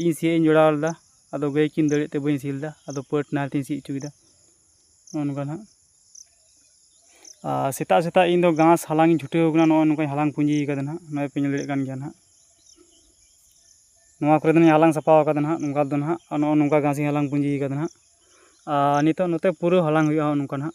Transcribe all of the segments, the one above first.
ᱤᱧ ᱥᱤᱭᱳᱜ ᱤᱧ ᱡᱚᱲᱟᱣ ᱞᱮᱫᱟ ᱟᱫᱚ ᱜᱟᱹᱭ ᱠᱤᱱ ᱫᱟᱹᱲᱮᱫ ᱛᱮ ᱵᱟᱹᱧ ᱥᱤ ᱞᱮᱫᱟ ᱟᱫᱚ ᱯᱟᱹᱴ ᱱᱟᱦᱮᱞ ᱛᱤᱧ ᱥᱤ ᱦᱚᱪᱚ ᱠᱮᱫᱟ ᱱᱚᱜᱼᱚ ᱱᱚᱝᱠᱟ ᱦᱟᱸᱜ ᱟᱨ ᱥᱮᱛᱟᱜ ᱥᱮᱛᱟᱜ ᱤᱧ ᱫᱚ ᱜᱷᱟᱥ ᱦᱟᱞᱟᱝ ᱤᱧ ᱪᱷᱩᱴᱟᱹᱣ ᱟᱠᱟᱱᱟ ᱱᱚᱜᱼᱚᱭ ᱱᱚᱝᱠᱟᱧ ᱦᱟᱞᱟᱝ ᱯᱩᱸᱡᱤ ᱟᱠᱟᱫᱟ ᱦᱟᱸᱜ ᱱᱚᱜᱼᱚᱭ ᱯᱮ ᱧᱮᱞ ᱫᱟᱲᱮᱭᱟᱜ ᱠᱟᱱ ᱜᱮᱭᱟ ᱦᱟᱸᱜ ᱱᱚᱣᱟ ᱠᱚᱨᱮ ᱫᱚᱧ ᱦᱟᱞᱟᱝ ᱥᱟᱯᱷᱟ ᱟᱠᱟᱫᱟ ᱦᱟᱸᱜ ᱱᱚᱝᱠᱟ ᱫᱚ ᱦᱟᱸᱜ ᱟᱨ ᱱᱚᱜᱼᱚ ᱱᱚᱝᱠᱟ ᱜᱷᱟᱥ ᱤᱧ ᱦᱟᱞᱟᱝ ᱯᱩᱸᱡᱤ ᱟᱠᱟᱫᱟ ᱦᱟᱸᱜ ᱟᱨ ᱱᱤᱛᱚᱜ ᱱᱚᱛᱮ ᱯᱩᱨᱟᱹ ᱦᱟᱞᱟᱝ ᱦᱩᱭᱩᱜᱼᱟ ᱱᱚᱝᱠᱟ ᱦᱟᱸᱜ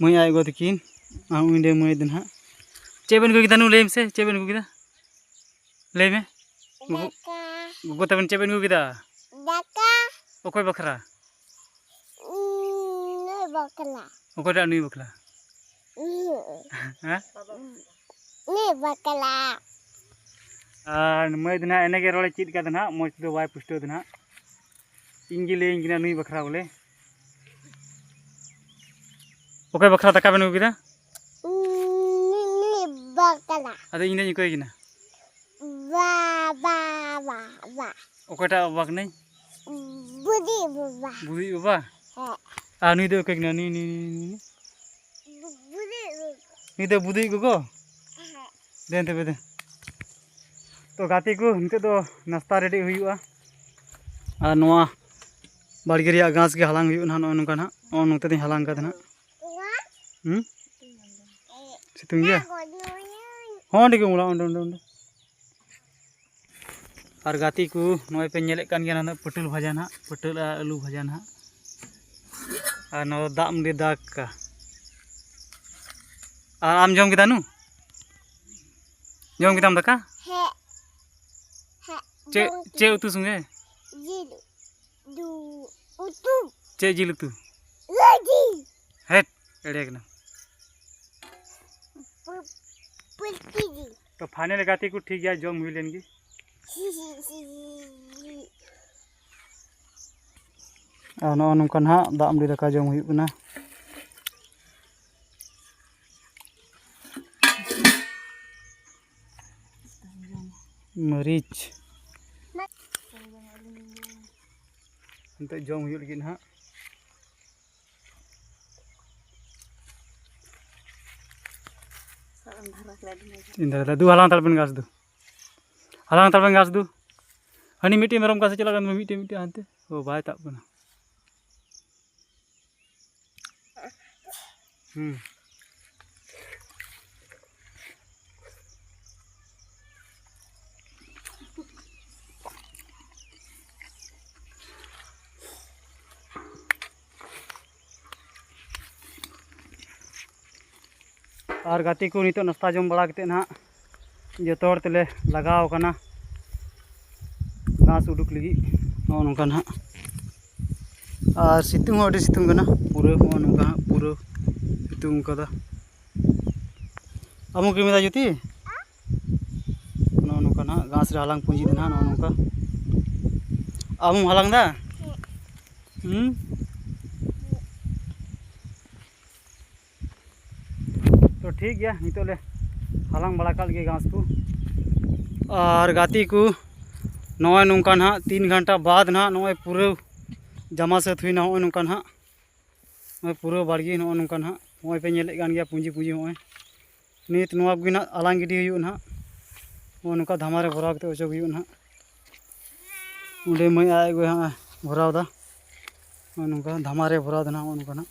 ᱢᱟᱹᱭ ᱟᱡ ᱜᱚ ᱛᱟᱹᱠᱤᱱ ᱟᱨ ᱩᱱᱤ ᱨᱮᱱ ᱢᱟᱹᱭ ᱫᱚ ᱱᱟᱦᱟᱜ ᱪᱮᱫ ᱵᱮᱱ ᱟᱹᱜᱩ ᱠᱮᱫᱟ ᱱᱩ ᱞᱟᱹᱭ ᱢᱮᱥᱮ ᱪᱮᱫ ᱵᱮᱱ ᱟᱹᱜᱩ ᱠᱮᱫᱟ ᱞᱟᱹᱭ ᱢᱮ ᱜᱚᱜᱚ ᱜᱚᱜᱚ ᱛᱟᱵᱮᱱ ᱪᱮᱫ ᱵᱮᱱ ᱟᱹᱜᱩ ᱠᱮᱫᱟ ᱫᱟᱠᱟ ᱚᱠᱚᱭ ᱵᱟᱠᱷᱨᱟ ᱱᱩᱭ ᱵᱟᱠᱷᱨᱟ ᱚᱠᱚᱭᱴᱟᱜ ᱱᱩᱭ ᱵᱟᱠᱷᱨᱟ ᱦᱮᱸ ᱱᱩᱭ ᱵᱟᱠᱷᱨᱟ ᱟᱨ ᱢᱟᱹᱭ ᱫᱚ ᱱᱟᱦᱟᱜ ᱮᱱᱮᱜᱮ ᱨᱚᱲᱮ ᱪᱮᱫ ᱠᱟᱫᱟ ᱱᱟᱦᱟᱜ ᱢᱚᱡᱽ ᱛᱮᱫᱚ ᱵᱟᱭ ᱯᱩᱥᱴᱟᱹᱣ ᱫᱟ ᱱᱟᱦᱟᱜ ᱤᱧᱜᱮ ᱞᱟᱹᱭᱟᱹᱧ ᱠᱟᱱᱟ ᱱᱩᱭ ᱵᱟᱠᱷᱨᱟ ᱵᱚᱞᱮ ᱚᱠᱚᱭ ᱵᱟᱠᱷᱨᱟ ᱫᱟᱠᱟ ᱵᱮᱱ ᱟᱹᱜᱩ ᱠᱮᱫᱟ ᱟᱫᱚ ᱤᱧ ᱫᱚᱧ ᱚᱠᱚᱭ ᱠᱤᱱᱟ ᱚᱠᱚᱭᱴᱟᱜ ᱵᱟᱵᱟ ᱠᱟᱹᱱᱟᱹᱧ ᱵᱩᱫᱤ ᱵᱟᱵᱟ ᱵᱩᱫᱤ ᱵᱟᱵᱟ ᱟᱨ ᱱᱩᱭ ᱫᱚ ᱚᱠᱚᱭ ᱠᱟᱱᱟ ᱱᱩᱭ ᱱᱩᱭ ᱱᱩᱭ ᱫᱚ ᱵᱩᱫᱤ ᱜᱚᱜᱚ ᱫᱮᱱ ᱛᱚᱵᱮ ᱫᱮᱱ ᱛᱚ ᱜᱟᱛᱮ ᱠᱚ ᱱᱤᱛᱚᱜ ᱫᱚ ᱱᱟᱥᱛᱟ ᱨᱮᱰᱤ ᱦᱩᱭᱩᱜᱼᱟ ᱟᱨ ᱱᱚᱣᱟ ᱵᱟᱲᱜᱮ ᱨᱮᱭᱟᱜ ᱜᱷᱟᱥ ᱜᱮ ᱦᱟᱞᱟᱝ ᱦᱩᱭᱩᱜᱼᱟ ᱱᱚᱜᱼᱚ ᱱᱚᱝᱠᱟ ᱱᱟᱜ ᱱᱚᱜᱼᱚ ᱱᱚᱛᱮ ᱫᱚᱧ ᱦᱟᱞᱟᱝ ᱠᱟᱫᱟ ᱱᱟᱜ ᱦᱮᱸ ᱥᱤᱛᱩᱝ ᱜᱮᱭᱟ ᱦᱚᱸ ᱚᱸᱰᱮ ᱜᱮ ᱚᱢᱚᱱᱚᱜᱼᱟ ᱚᱸᱰᱮ ᱚᱸᱰᱮ ᱚᱸᱰᱮ ᱟᱨ ᱜᱟᱛᱮ ᱠᱚ ᱱᱚᱜᱼᱚᱭ ᱯᱮ ᱧᱮᱞᱮᱫ ᱠᱟᱱ ᱜᱮᱭᱟ ᱱᱟᱜ ᱯᱟᱹᱴᱟᱹᱞ ᱵᱷᱟᱡᱟ ᱱᱟᱜ ᱯᱟᱹᱴᱟᱹᱞ ᱟᱨ ᱟᱹᱞᱩ ᱵᱷᱟᱡᱟ ᱱᱟᱜ ᱟᱨ ᱱᱚᱣᱟ ᱫᱟᱜ ᱢᱟᱹᱰᱤ ᱫᱟᱠᱟ ᱟᱨ ᱟᱢ ᱡᱚᱢ ᱠᱮᱫᱟ ᱱᱩ ᱡᱚᱢ ᱠᱮᱫᱟᱢ ᱫᱟᱠᱟ ᱪᱮᱫ ᱪᱮᱫ ᱩᱛᱩ ᱥᱚᱸᱜᱮ ᱡᱤᱞ ᱫᱩ ᱩᱛᱩ ᱪᱮᱫ ᱡᱤᱞ ᱩᱛᱩ ᱡᱤᱞ ᱦᱮᱴ ᱮᱲᱮ ᱠᱟᱱᱟ ᱯᱩᱞᱴᱤ ᱡᱤᱞ ᱛᱚ ᱯᱷᱟᱭᱱᱮᱞ ᱜᱟᱛᱮ ᱠᱚ ᱴᱷᱤᱠ ᱜᱮᱭᱟ ᱡᱚᱢ ᱦᱩᱭ ᱞᱮᱱ ᱜᱮ ᱟᱨ ᱱᱚᱜᱼᱚ ᱱᱚᱝᱠᱟ ᱱᱟᱦᱟᱜ ᱫᱟᱜ ᱢᱟᱹᱰᱤ ᱫᱟᱠᱟ ᱡᱚᱢ ᱦᱩᱭᱩᱜ ᱠᱟᱱᱟ ᱢᱟᱹᱨᱤᱪ ᱱᱤᱛᱚᱜ ᱡᱚᱢ ᱦᱩᱭᱩᱜ ᱞᱟᱹᱜᱤᱫ ᱱᱟᱦᱟᱜ ᱤᱱᱫᱟ ᱫᱟᱫᱩ ᱦᱟᱞᱟᱝ ᱛᱟᱲᱵᱮᱱ ᱜᱟᱥ ᱫᱚ ᱦᱟᱞᱟᱝ ᱛᱟᱲᱵᱮᱱ ᱜᱟᱥ ᱫᱚ ᱦᱟᱹᱱᱤ ᱢᱤᱫᱴᱮᱱ ᱢᱮᱨᱚᱢ ᱜᱟᱥᱮ ᱪᱟᱞᱟᱜ ᱠᱟᱱ ᱢᱤᱫᱴᱮᱱ ᱢᱤᱫᱴᱮᱱ ᱦᱟᱱᱛᱮ ᱚ ᱵᱟᱭ ᱛᱟᱵ ᱠᱟᱱᱟ ᱦᱩᱸ ᱟᱨ ᱜᱟᱛᱮ ᱠᱚ ᱱᱤᱛᱚᱜ ᱱᱟᱥᱛᱟ ᱡᱚᱢ ᱵᱟᱲᱟ ᱠᱟᱛᱮᱫ ᱱᱟᱦᱟᱜ ᱡᱚᱛᱚ ᱦᱚᱲ ᱛᱮᱞᱮ ᱞᱟᱜᱟᱣ ᱟᱠᱟᱱᱟ ᱜᱷᱟᱥ ᱩᱰᱩᱠ ᱞᱟᱹᱜᱤᱫ ᱱᱚᱜᱼᱚ ᱱᱚᱝᱠᱟ ᱱᱟᱦᱟᱜ ᱟᱨ ᱥᱤᱛᱩᱝ ᱦᱚᱸ ᱟᱹᱰᱤ ᱥᱤᱛᱩᱝ ᱠᱟᱱᱟ ᱯᱩᱨᱟᱹ ᱱᱚᱜᱼᱚ ᱱᱚᱝᱠᱟ ᱦᱟᱸᱜ ᱯᱩᱨᱟᱹ ᱥᱤᱛᱩᱝ ᱠᱟᱫᱟ ᱟᱢ ᱦᱚᱸ ᱠᱤᱨᱤᱧ ᱮᱫᱟ ᱡᱩᱛᱤ ᱱᱚᱜᱼᱚ ᱱᱚᱝᱠᱟ ᱱᱟᱦᱟᱜ ᱜᱷᱟᱥ ᱨᱮ ᱦᱟᱞᱟᱝ ᱯᱩᱸᱡᱤ ᱫᱚ ᱱᱟᱦᱟᱜ ᱱᱚᱜᱼᱚ ᱱᱚᱝᱠᱟ ᱟᱢ ᱦᱚᱸᱢ ᱦᱟᱞᱟᱝ ᱮᱫᱟ ᱦᱮᱸ ᱛᱚ ᱴᱷᱤᱠ ᱜᱮᱭᱟ ᱱᱤᱛᱚᱜ ᱞᱮ ᱦᱟᱞᱟᱝ ᱵᱟᱲᱟ ᱠᱟᱜ ᱞᱮᱜᱮ ᱜᱷᱟᱥ ᱠᱚ ᱟᱨ ᱜᱟᱛᱮ ᱠᱚ ᱱᱚᱜᱼᱚᱭ ᱱᱚᱝᱠᱟ ᱱᱟᱦᱟᱜ ᱛᱤᱱ ᱜᱷᱚᱱᱴᱟ ᱵᱟᱫ ᱱᱟᱦᱟᱜ ᱱᱚᱜᱼᱚᱭ ᱯᱩᱨᱟᱹ ᱡᱟᱢᱟ ᱥᱟᱹᱛ ᱦᱩᱭᱱᱟ ᱱᱚᱜᱼᱚᱭ ᱱᱚᱝᱠᱟ ᱱᱟᱦᱟᱜ ᱱᱚᱜᱼᱚᱭ ᱯᱩᱨᱟᱹ ᱵᱟᱲᱜᱮ ᱱᱚᱜᱼᱚᱭ ᱱᱚᱝᱠᱟ ᱱᱟᱦᱟᱜ ᱱᱚᱜᱼᱚᱭ ᱯᱮ ᱧᱮᱞᱮᱫ ᱠᱟᱱ ᱜᱮᱭᱟ ᱯᱩᱸᱡᱤ ᱯᱩᱸᱡᱤ ᱱᱚᱜᱼᱚᱭ ᱱᱤᱛ ᱱᱚᱣᱟ ᱠᱚᱜᱮ ᱱᱟᱦᱟᱜ ᱟᱞᱟᱝ ᱜᱤᱰᱤ ᱦᱩᱭᱩᱜᱼᱟ ᱱᱟᱦᱟᱜ ᱱᱚᱜᱼᱚᱭ ᱱᱚᱝᱠᱟ ᱫᱷᱟᱢᱟ ᱨᱮ ᱵᱷᱚᱨᱟᱣ ᱠᱟᱛᱮᱫ ᱚᱪᱚᱜ ᱦᱩᱭᱩᱜᱼᱟ ᱱᱟᱦᱟᱜ ᱚᱸᱰᱮ ᱢᱟᱹᱭ ᱟᱡ ᱜᱚᱭ ᱦᱟᱸᱜ ᱵᱷᱚᱨᱟᱣᱫᱟ ᱱᱚᱜᱼᱚᱭ ᱱᱚᱝᱠᱟ ᱫᱷᱟᱢᱟ ᱨᱮ ᱵᱷᱚᱨᱟᱣᱫᱟ ᱱᱟᱦᱟᱜ ᱱᱚᱜᱼᱚᱭ ᱱᱚᱝᱠᱟ ᱱᱟᱦᱟᱜ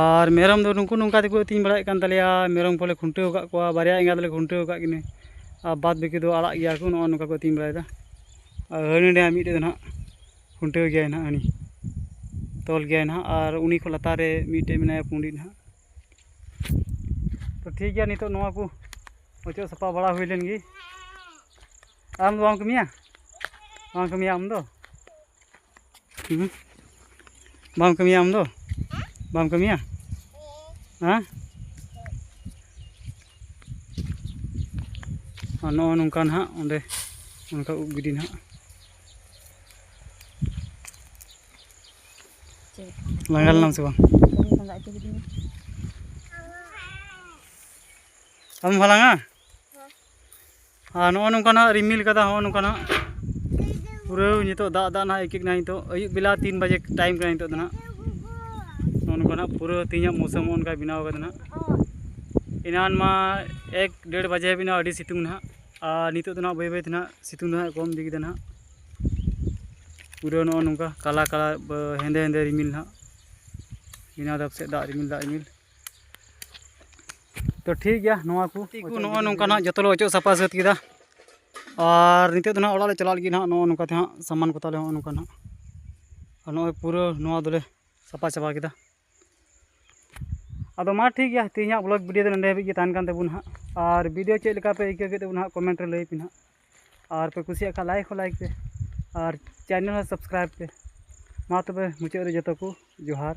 ᱟᱨ ᱢᱮᱨᱚᱢ ᱫᱚ ᱱᱩᱠᱩ ᱱᱚᱝᱠᱟ ᱛᱮᱠᱚ ᱟᱹᱛᱤᱧ ᱵᱟᱲᱟᱭᱮᱫ ᱠᱟᱱ ᱛᱟᱞᱮᱭᱟ ᱢᱮᱨᱚᱢ ᱠᱚᱞᱮ ᱠᱷᱩᱱᱴᱟᱹᱣ ᱟᱠᱟᱫ ᱠᱚᱣᱟ ᱵᱟᱨᱭᱟ ᱮᱸᱜᱟ ᱫᱚᱞᱮ ᱠᱷᱩᱱᱴᱟᱹᱣ ᱟᱠᱟᱫ ᱠᱤᱱᱟᱹ ᱟᱨ ᱵᱟᱫ ᱵᱟᱹᱠᱤ ᱫᱚ ᱟᱲᱟᱜ ᱜᱮᱭᱟ ᱠᱚ ᱱᱚᱜᱼᱚ ᱱᱚᱝᱠᱟ ᱠᱚ ᱟᱹᱛᱤᱧ ᱵᱟᱲᱟᱭᱮᱫᱟ ᱟᱨ ᱦᱟᱹᱱᱤ ᱱᱟᱹᱭ ᱢᱤᱫᱴᱮᱡ ᱫᱚ ᱱᱟᱦᱟᱜ ᱠᱷᱩᱱᱴᱟᱹᱣ ᱜᱮᱭᱟᱭ ᱱᱟᱦᱟᱜ ᱦᱟᱹᱱᱤ ᱛᱚᱞ ᱜᱮᱭᱟᱭ ᱱᱟᱦᱟᱜ ᱟᱨ ᱩᱱᱤ ᱠᱷᱚᱱ ᱞᱟᱛᱟᱨ ᱨᱮ ᱢᱤᱫᱴᱮᱡ ᱢᱮᱱᱟᱭᱟ ᱯᱩᱸᱰᱤ ᱱᱟᱦᱟᱜ ᱛᱚ ᱴᱷᱤᱠ ᱜᱮᱭᱟ ᱱᱤᱛᱚᱜ ᱱᱚᱣᱟ ᱠᱚ ᱚᱪᱚᱜ ᱥᱟᱯᱷᱟ ᱵᱟᱲᱟ ᱦᱩᱭ ᱞᱮᱱ ᱜᱮ ᱟᱢ ᱫᱚ ᱵᱟᱢ ᱠᱟᱹᱢᱤᱭᱟ ᱵᱟᱢ ᱠᱟᱹᱢᱤᱭᱟ ᱟᱢ ᱫᱚ ᱵᱟᱢ ᱠᱟᱹᱢᱤᱭᱟ ᱟᱢ ᱫᱚ ᱵᱟᱢ ᱠᱟᱹᱢᱤᱭᱟ ᱦᱮᱸ ᱟᱨ ᱱᱚᱜᱼᱚ ᱱᱚᱝᱠᱟ ᱱᱟᱦᱟᱜ ᱚᱸᱰᱮ ᱚᱱᱠᱟ ᱩᱵ ᱜᱤᱰᱤ ᱱᱟᱦᱟᱜ ᱞᱟᱸᱜᱟ ᱞᱮᱱᱟᱢ ᱥᱮ ᱵᱟᱝ ᱟᱢ ᱦᱚᱸ ᱞᱟᱸᱜᱟ ᱟᱨ ᱱᱚᱜᱼᱚ ᱱᱚᱝᱠᱟ ᱱᱟᱜ ᱨᱤᱢᱤᱞ ᱠᱟᱫᱟ ᱱᱚᱜᱼᱚ ᱱᱚᱝᱠᱟ ᱱᱟᱜ ᱯᱩᱨᱟᱹ ᱱᱤᱛᱚᱜ ᱫᱟᱜ ᱫᱟᱜ ᱱᱟᱜ ᱟᱹᱭᱠᱟᱹᱜ ᱠᱟᱱᱟ ᱱᱤᱛᱚᱜ ᱟᱹᱭᱩᱵ ᱵᱮᱞᱟ ᱛᱤᱱ ᱵᱟᱡᱮ ᱴᱟᱭᱤᱢ ᱠᱟᱱᱟ ᱱᱤᱛᱚᱜ ᱫᱚ ᱱᱟᱜ ᱱᱚᱜᱼᱚ ᱱᱚᱝᱠᱟ ᱱᱟᱜ ᱯᱩᱨᱟᱹ ᱛᱮᱦᱮᱧᱟᱜ ᱢᱳᱥᱚᱢ ᱚᱱᱠᱟ ᱵᱮᱱᱟᱣ ᱠᱟᱫᱟ ᱱᱟᱜ ᱮᱱᱟᱱ ᱢᱟ ᱮᱠ ᱰᱮᱲ ᱵᱟᱡᱮ ᱦᱟᱹᱵᱤᱡ ᱱᱟᱜ ᱟᱹᱰᱤ ᱥᱤᱛᱩᱝ ᱱᱟᱜ ᱟᱨ ᱱᱤᱛᱚᱜ ᱫᱚ ᱱᱟᱜ ᱵᱟᱹᱭ ᱵᱟᱹᱭ ᱛᱮ ᱱᱟᱜ ᱥᱤᱛᱩᱝ ᱫᱚ ᱱᱟᱜ ᱠᱚᱢ ᱤᱫᱤ ᱠᱮᱫᱟ ᱱᱟᱜ ᱯᱩᱨᱟᱹ ᱱᱚᱜᱼᱚ ᱱᱚᱝᱠᱟ ᱠᱟᱞᱟ ᱠᱟᱞᱟ ᱦᱮᱸᱫᱮ ᱦᱮᱸᱫᱮ ᱨᱤᱢᱤᱞ ᱱᱟᱜ ᱵᱮᱱᱟᱣ ᱫᱟᱜ ᱥᱮᱫ ᱫᱟᱜ ᱨᱤᱢᱤᱞ ᱫᱟᱜ ᱨᱤᱢᱤᱞ ᱛᱚ ᱴᱷᱤᱠ ᱜᱮᱭᱟ ᱱᱚᱣᱟ ᱠᱚ ᱱᱚᱜᱼᱚᱭ ᱱᱚᱝᱠᱟ ᱱᱟᱜ ᱡᱚᱛᱚ ᱞᱮ ᱚᱪᱚᱜ ᱥᱟᱯᱷᱟ ᱥᱟᱹᱛ ᱠᱮᱫᱟ ᱟᱨ ᱱᱤᱛᱚᱜ ᱫᱚ ᱱᱟᱜ ᱚᱲᱟᱜ ᱞᱮ ᱪᱟᱞᱟᱜ ᱞᱟᱹᱜᱤᱫ ᱱᱟᱜ ᱱᱚᱜᱼᱚ ᱱᱚᱝᱠᱟ ᱛᱮ ᱦᱟᱸᱜ ᱥᱟᱢᱟᱱ ᱠᱚ ᱛᱟᱞᱮ ᱱᱚᱜᱼᱚ ᱱᱚᱝᱠᱟ ᱱᱟᱜ ᱟᱨ ᱱᱚᱜᱼᱚᱭ ᱯᱩᱨᱟᱹ ᱱᱚᱣᱟ ᱫᱚᱞᱮ ᱥᱟᱯᱷᱟ ᱪᱟᱵᱟ ᱠᱮᱫᱟ ᱟᱫᱚ ᱢᱟ ᱴᱷᱤᱠ ᱜᱮᱭᱟ ᱛᱮᱦᱮᱧᱟᱜ ᱵᱞᱚᱜ ᱵᱷᱤᱰᱤᱭᱳ ᱫᱚ ᱱᱚᱸᱰᱮ ᱦᱟᱹᱵᱤᱡ ᱜᱮ ᱛᱟᱦᱮᱱ ᱠᱟᱱ ᱛᱟᱵᱚᱱᱟ ᱦᱟᱸᱜ ᱟᱨ ᱵᱷᱤᱰᱤᱭᱳ ᱪᱮᱫ ᱞᱮᱠᱟ ᱯᱮ ᱟᱹᱭᱠᱟᱹᱣ ᱠᱮᱫ ᱛᱟᱵᱚᱱᱟ ᱦᱟᱸᱜ ᱠᱚᱢᱮᱱᱴ ᱨᱮ ᱞᱟᱹᱭ ᱯᱮ ᱦᱟᱸᱜ ᱟᱨ ᱯᱮ ᱠᱩᱥᱤᱭᱟᱜ ᱠᱷᱟᱱ ᱞᱟᱭᱤᱠ ᱦᱚᱸ ᱞᱟᱭᱤᱠ ᱯᱮ ᱟᱨ ᱪᱮᱱᱮᱞ ᱦᱚᱸ ᱥᱟᱵᱥᱠᱨᱟᱭᱤᱵᱽ ᱯᱮ ᱢᱟ ᱛᱚᱵᱮ ᱢᱩᱪᱟᱹᱫ ᱨᱮ ᱡᱚᱛᱚ ᱠᱚ ᱡᱚᱦᱟᱨ